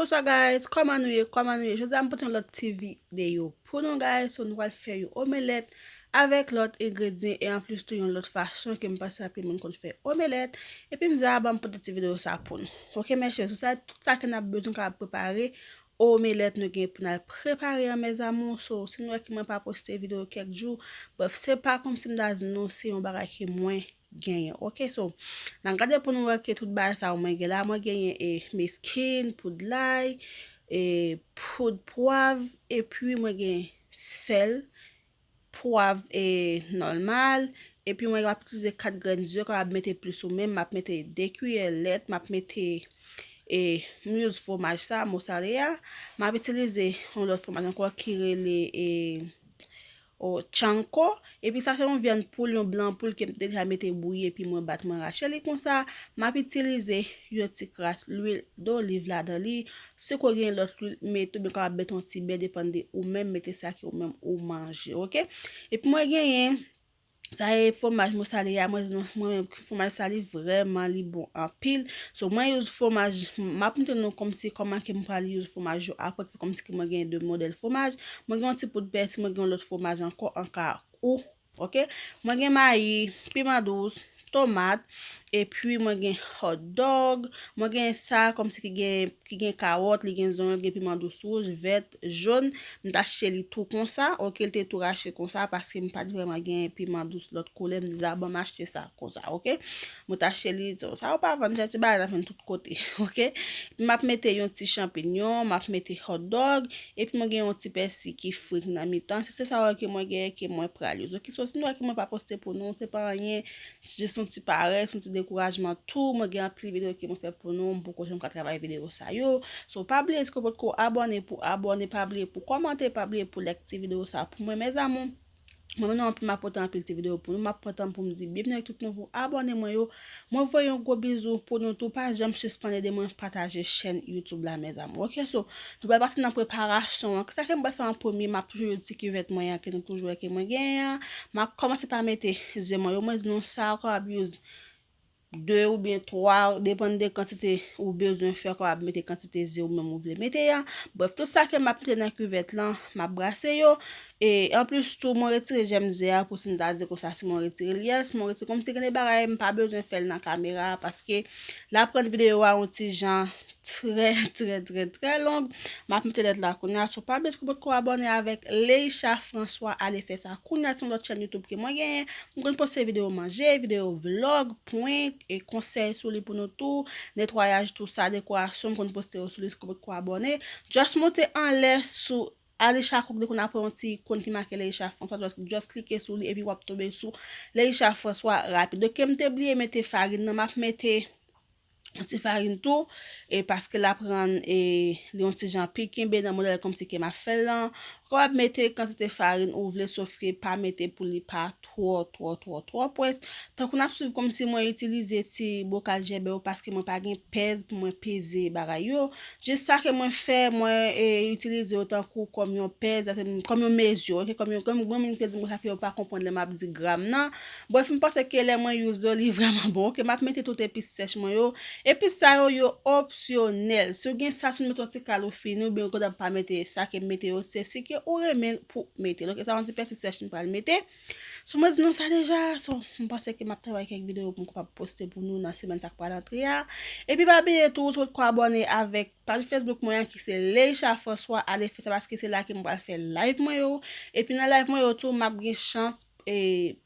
Bonsoir guys, kòman nou ye, kòman nou ye Jodi a m pote yon lòt ti videyo pou nou guys So nou pral fè yon omelèt avèk lòt engredyen E an plis tou yon lòt fason ke m panse anpil moun konn fè omelèt Epi m di a ba m pote ti videyo sa pou nou Ok mes chè, sou sa tout sa ke n ap bezwen ka ap prepare Omelèt nou gen pou nal prepare an mes amours so si nou wè ke mwen pa poste video kèk jou bref se pa komsi m ta di nou se yon bagay ke mwen genyen ok so nan gade pou nou wè ke tout bagay sa yo mwen gen la mwen genyen e meskin poud lay e poud pwav epi mwen gen sèl pwav e nòlmal epi mwen ap itize 4 grenn ze kapab mete plis ou menm map mete 2 kiyè lèt map mete e muz fwomaj sa mosarea map itilize yon lòt fwomaj ankò ki rele e o tchanko epi sa se yon vyann poul yon blan poul kem deja mete bouyi epi mwen bat mwen rache li konsa map itilize yon ti kras lwil doliv ladan li Si ke w gen lòt lwil mete ou byen kapab mete yon ti bè depann de ou menm mete sa ke ou menm ou manje ok. Epi mwen genyen sa e fwomaj mosale a mwen di mwen menm fwomaj sa li vrèman li bon anpil so mwen use fwomaj m ap montre nou kòmsi kòman ke m pral use fwomaj yo aprè kòmsi ke mwen gen 2 modèl fwomaj mwen gen yon ti poud pèsi mwen gen yon lòt fwomaj ankò anka ou Ok mwen gen mayi, piman dous, tomat, epi mwen gen hot dog, mwen gen sa komsi ki gen ki gen kawòt, li gen zonyon, li gen piman dous wouj, vèt, jòn, m ta chèche li tou konsa, ok li te tou rache konsa paske m pat vrèman gen piman dous lòt koulè m di a bon m achte sa konsa ok. Mwen ta cheli di w sa yo pa vann jan ti bagay nan vann tout kote ok epi map mete yon ti chanpinyon map mete hotdog epi mwen gen yon ti pèsi ki fri nan mitan se sa yo ke mwen genyen ke mwen pral use ok so si nou wè ke mwen pa poste pou nou se pa anyen se jis yon ti parès yon ti dekourajman tou mwen gen anpil video ke mwen fè pou nou m poko janm ka travay video sa yo so pa bliye si w potko abòne pou abòne pa bliye pou kòmante pa bliye pou lèk ti video sa pou mwen mes amours. Mwen menm nan anpil map pote anpil ti video pou nou map pran tanm poum di byenvni ak tout nouvo abòne mwen yo mwen voye yon gwo bizou pou nou tou pa janm sispann ede mwen pataje chèn YouTube la mes amour ok so nou pral pase nan preparasyon an kisa ke mwen pral fè an premye map toujou use ti kivèt mwen an ke nou toujou wè ke mwen genyen an map kòmanse pa mete ze mwen yo mwen di nou sa ou kapab use 2 oubyen 3, depann de kantite ou bezwen fè kòw ap mete kantite ze ou menm ou vle mete a, brèf tout sa ke map mete nan kivèt lan map brase yo, e anplis tou mwen retire jèm ze a pou si m ta di konsa si mwen retirel yes mwen retire kòmsi gen de bagay m pa bezwen fèl nan kamera paske la prann videyo a yon ti jan trè trè trè trè long map mete lèt la kounya so pa bliye tko potko abòne avèk Leisha François ale fè sa kounya se yon lòt chèn YouTube ke mwen genyen m konn poste video manje video vlog prank e konsèy sou li pou nou tou netwayaj tou sa dekorasyon m konn poste yo sou li tko potko abòne just monte anlè sou Alisha Cook depi w konn apre yon ti ikon ki make Leisha François just klike sou li epi wap tonbe sou Leisha François rapid ok kem te bliye mete farine nan map mete yon ti farin tou, e paske l ap rann e li yon ti jan pi kenbe nan modèl kòmsi ke m ap fè l lan, ou kapab mete kantite farin ou vle sof ke pa mete pou li pa twò twò twò twò pwès, tankou n ap swiv kòmsi mwen itilize ti bokal jèbè yo paske mwen pa gen pèz pou mwen peze bagay yo, jis sa ke mwen fè mwen e itilize yo tankou kòm yon pèz, kòm yon mezi ok, kòm yon, gen moun ki te di m konsa ke yo pa konprann lè m ap di gram nan. Bref m panse ke lè mwen use yo li vrèman bon ok map mete tout epis sèch mwen yo epis sa yo yo opsyonèl si w gen sa si w met yon ti kal ou fini oubyen ou gentan pa mete sa kem mete yo se si ke ou renmen l pou mete l ok sa yon ti pèsi sèch m pral mete so mwen di nou sa deja so m panse ke map travay kèk videyo pou m kapab poste pou nou nan semèn sa k pral antre a epi pa bliye tou ou sot ko abòne avèk Paj Facebook mwen an ki se Leisha François ale fè sa paske se la ke mwen pral fè live mwen yo. Epi nan live mwen yo tou map gen chans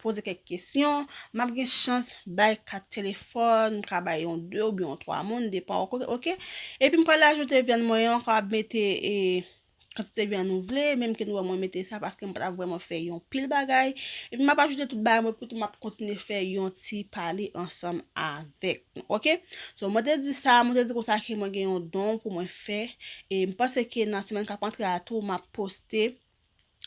poze kèk kesyon, map gen chans bay kat telefòn, m ka bay yon 2 oubyen yon 3 moun depan ok. Epi m pral ajoute vyann mwen an, m kapab mete kantite vyan nou vle, menm ke nou wè mwen mete sa paske m pa ta vreman fè yon pil bagay, epi m ap ajoute tout bagay mwen epitou m ap kontinye fè yon ti pale ansanm avèk nou ok, so mwen te di sa, mwen te di konsa ke mwen gen yon don pou mwen fè, e m panse ke nan semèn k ap antre a tou m ap poste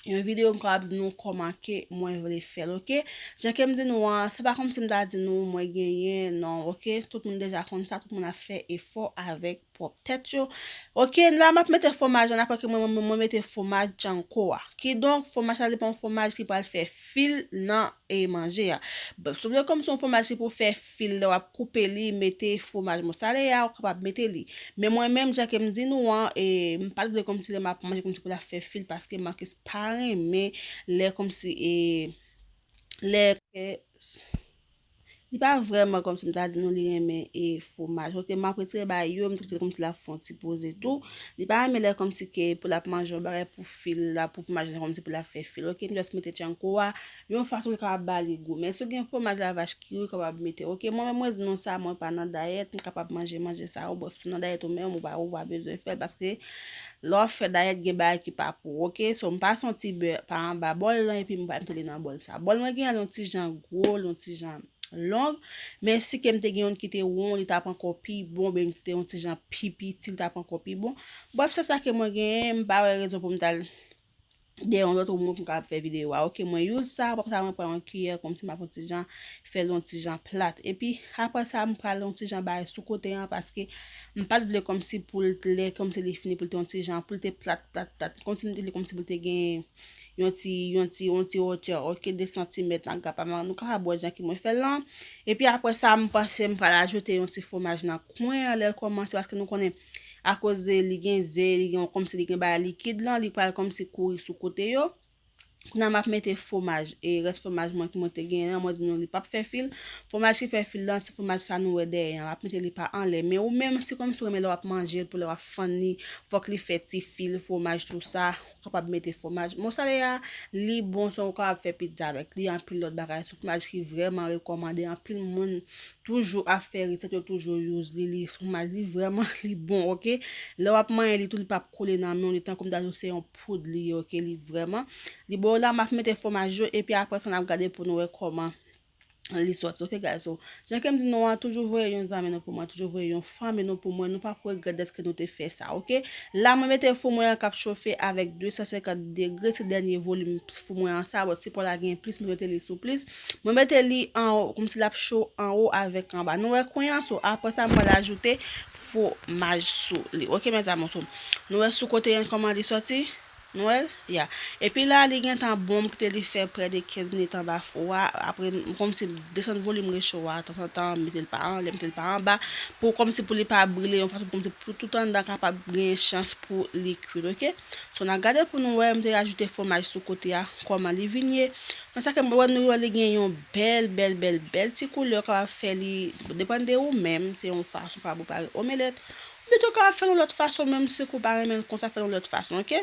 yon videyo m kapab di nou kòman ke mwen vle fè l ok, jan ke m di nou an, se pa kòmsi m ta di nou mwen genyen non ok, tout moun deja konn sa, tout moun ap fè efò avèk. pwòp tèt yo ok la map mete fwomaj an aprè ke mwen mete fwomaj janko a kidonk fwomaj sa li pa yon fwomaj ki pral fè fil nan e manje a si w vle kòm se yon fwomaj ki pou fè fil lè wap koupe li mete fwomaj mosarela ou kapab mete li men mwen menm jan kem di nou an e m pat vle kòmsi lè map manje kòmsi pou ta fè fil paske Marcus pa renmen lè kòmsi e. lè ke li pa vrèman kòmsi m ta di nou li renmen e fwomaj ok map retire ba yo m twouve kòmsi lap fè yon ti poze tou li pa renmen lè kòmsi ke pou lap manje yon bagay pou fil la pou fwomaj la kòmsi pou lap fè fil ok m jès mete tchankou a yon fason ki kapab ba li gou men si w gen fwomaj la vach kiri ou kapab mete ok mwen menm mwen di nou sa mwen pa nan dayèt m kapab manje manje sa yo bon si w nan dayèt ou menm ou pa ou pa bezwen fèl paske Lè wap fè dayèt gen bagay ki pa pou ou ok so m pase yon ti bè pa anba bòl lan epi m bay mete li nan bòl sa bòl mwen gen an li yon ti jan gwo li yon ti jan long men si ke m te gen youn ki te won li tap ankò pi bon oubyen youn ki te yon ti jan pi piti li tap ankò pi bon brèf se sa ke mwen gen m pa wè rezon pou m tal de yon lòt remon pou m kapab fè videyo a ok mwen use sa aprè sa mwen pran yon kiyè kòmsi m ap yon ti jan fè l yon ti jan plat epi aprè sa m pral yon ti jan bay sou kote an paske m pat vle kòmsi pou l t lè kòmsi li fini pou l te yon ti jan pou l te plat plat plat kòmsi m te vle kòmsi pou l te gen yon ti yon ti yon ti otè ok 2 santimèt nan gapa m nou kapab wè jan ki mwen fè l lan epi aprè sa m panse m pral ajoute yon ti fwomaj nan kwen an lè l kòmanse paske nou konnen akoz li gen ze li gen kòmsi li gen bagay likid lan li pral kòmsi kouri sou kote yo kounya map mete fwomaj e rès fwomaj mwen ki mwen te genyen an mwen di nou li pap fè fil fwomaj ki fè fil lan se fwomaj sa nou wè dèyè an map mete li pa anlè men ou menm si kòmsi ou renmen lè wap manjel pou lè wap fann li fòk li fè ti fil fwomaj tou sa kapab mete fwomaj mosarela a li bon tou ou kapab fè pizza avèk li anpil lòt bagay son fwomaj ki vrèman rekòmande anpil moun toujou ap fè resèt yo toujou use li li fwomaj li vrèman li bon ok lè wap manyen li tou li pap kole nan men w li tankou m ta di w se yon poud li ye ok li vrèman li bon la map mete fwomaj yo epi aprè sa nap gade pou nou wè kòman li sòti ok guys so jan kem di nou an toujou voye yon zami nou pou mwen toujou voye yon fanmi nou pou mwen nou pa pou regrèt deske nou te fè sa ok la mwen mete fou mwen an kap chofe avèk 250 degre se dènye volim fou mwen an sa bò ti pò la gen plis mwen mete li sou plis mwen mete li an o koum si lap cho an o avèk an ba nou wè kwen an so apre sa mwen lajoute fwomaj sou li ok mèzamou so nou wè sou kote an kòman li sòti Nwèl? Ya. Epi la li gentan bon m kite li fè prè de 15 minit anba fou a, apre m kòmnse m desann volim recho a tanzantan, m mete l pa anlè, m mete l pa anba, pou kòmnse pou li pa brile yon fason kòmnse pou tout anndan kapab genyen chans pou li kuit ok. So n a gade pou n wè, m te rajoute fwomaj sou kote a, kòman li vin ye. Nan sa ke m wè nou wè li gen yon bèl bèl bèl bèl ti koulè ou kapab fè li, depann de ou menm, se yon fason ou kapab prepare omelèt, Pito ka fèl yon lòt fason menm si kou pa renmenl konsa fèl yon lòt fason ok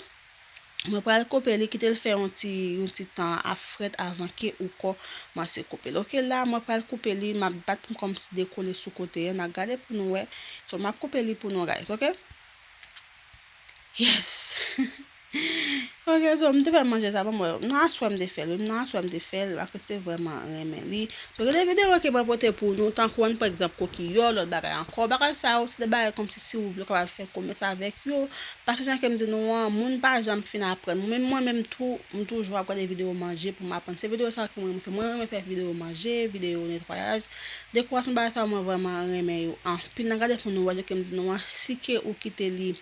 mwen pral koupel li kitel fè yon ti yon ti tan ap frèt avan ke ou kò manse koupel ok la mwen pral koupe li map bat pou kòm si dekole sou kote an na gade pou nou wè so map koupe li pou nou guys ok yes. Ok so m te fè manje sa banm wè nan aswè m te fèl wi m nan aswè m te fèl paske se vrèman renmen li so gen de video ke mwen pote pou nou tankou an pran egzanp kokiyò lòt bagay ankò bagay sa yo se de bagay kòmsi si ou vle ou kapab fè komès avèk yo paske jan kem di nou an moun pa janm fin aprann menm mwen menm tou m toujou ap gade video manje pou m aprann se video sa yo ke mwen renmen fè mwen renmen fè video manje video netwayaj dekorasyon bagay sa yo mwen vrèman renmen yo anpil nan gade pou nou wè jan kem di nou an si ke ou kite li.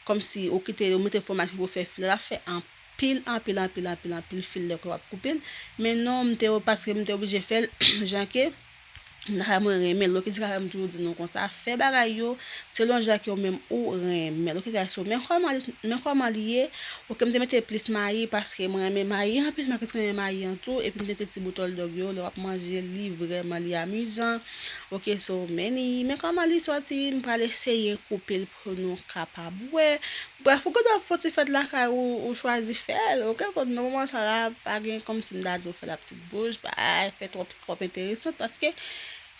Kòmsi ou kite yo mete fwomaj ki pou fè file la fè anpil anpil anpil anpil anpil fil lè ke wap koupel men non m te paske m te oblije fèl jan ke moun lakay mwen renmen l ok se sa fè m toujou di nou konsa fè bagay yo selon jan ke ou menm ou renmen l ok gays so men kòman li men kòman li ye ok m te mete plis mayi paske mwen renmen mayi anpil mwen plis renmen mayi an tou epi m te mete ti bout òldòg yo lè wap manje li vrèman li amizan ok so men li men kòman li sòti m pral eseye koupe l. pou nou kapab wè, brèf ou gentan fon ti fèt lakay ou ou chwazi fèl ok kòm nan moman sa la pa gen kòmsi m ta di ou fè la ptit bouch pa fè twòp twòp enteresant paske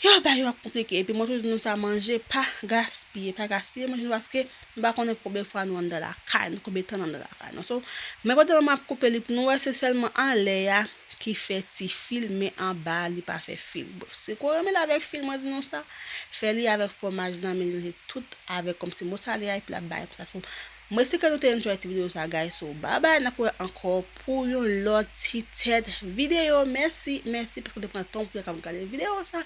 yow bagay yo ap konplike epi mwen toujou di nou sa manje pa gaspiye pa gaspiye manje nou paske nou pa konnen konbyen fwa nou anndan lakay nou konbyen tan nou anndan lakay nou so men kote mwen ap koupe li pou nou wè se sèlman anlè a ki fè ti fil men anba a li pa fè fil bon si ko renmen l avèk fil mwen di nou sa fè li avèk fwomaj lan melanje tout avèk kòmsi mosarela epi lap bay sansasyon m espere nou te enjoy ti video sa guys so babay nap wè ankò pou yon lòt ti tèt video mèsi mèsi paske w te pran tan w pou w te kab gade video sa.